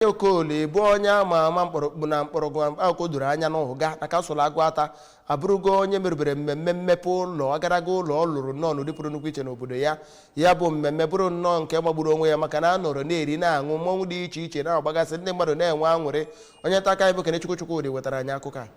Ifeanyi Okoli bụ onye ama ama mkpọrọgwụ na mkpọrọgwụ akwụkwọ doro anya n'Ụga na kansụl Agụata abụrụgo onye merubere mmemme mmepe ụlọ agaraga ụlọ ọ lụrụ nnọọ n'ụdị pụrụ nnukwu iche n'obodo ya ya bụ mmemme bụrụ nnọọ nke magburu onwe ya maka na a nọrọ na-eri na-aṅụ mmọnwụ dị iche iche na-agbagasị ndị mmadụ na-enwe aṅụrị onye nta akụkọ anyị bụ Kenechukwu Chukwudị wetara anyị akụkọ a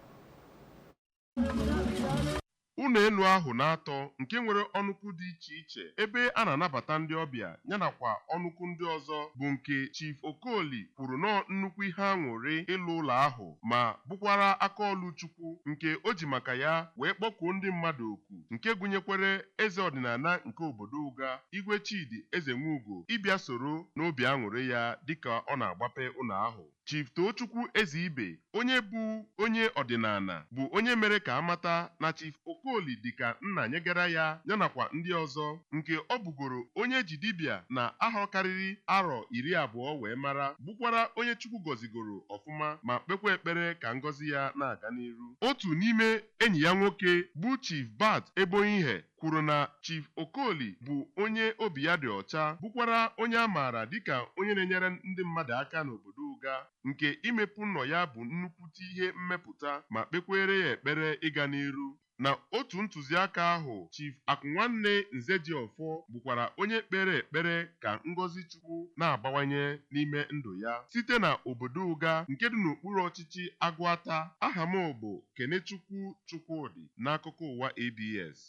ụlọ elu ahụ na-atọ nke nwere ọnụkwụ dị iche iche ebe a na-anabata ndị ọbịa ya nakwa ọnụkwụ ndị ọzọ bụ nke Chief Okoli kwuru na ọọ nnukwu ihe aṅụrị ịlụ ụlọ ahụ ma bụkwara aka ọlụ Chukwu nke o ji maka ya wee kpọkuo ndị mmadụ oku nke gụnyekwere eze ọdịnala nke obodo Ụga Igwe Chidi Ezenwugo ịbịa soro n'obi aṅụrị ya dịka ọ na-agbape ụlọ ahụ Chief Toochukwu Ezeibe, onye bụ onye ọdịnala, bụ onye mere ka a mata na Chief Okoli dịka nna nyegara ya, ya nakwa ndị ọzọ, nke ọ bụgoro onye e ji dibịa na ahọ karịrị arọ iri abụọ wee mara, bụkwara onye Chukwu gọzigoro ọfụma ma kpekwa ekpere ka ngọzi ya na-aga n'iru. Otu n'ime enyi ya nwoke, bụ Chief Bart Eboihe, kwuru na Chief Okoli bụ onye obi ya dị ọcha bụkwara onye a maara dịka onye na-enyere ndị mmadụ aka n'obodo Ụga nke imepe ụlọ ya bụ nnukwute ihe mmepụta ma kpekweere ya ekpere ịga n'iru. Na otu ntụziaka ahụ, Chief Akụnwanne Nzejiọfọ bụkwara onye kpere ekpere ka ngọzi Chukwu na-abawanye n'ime ndụ ya site na obodo Ụga nke dị n'okpuru ọchịchị Agụata. Aha m bụ Kenechukwu Chukwudị n'akụkọ ụwa ABS.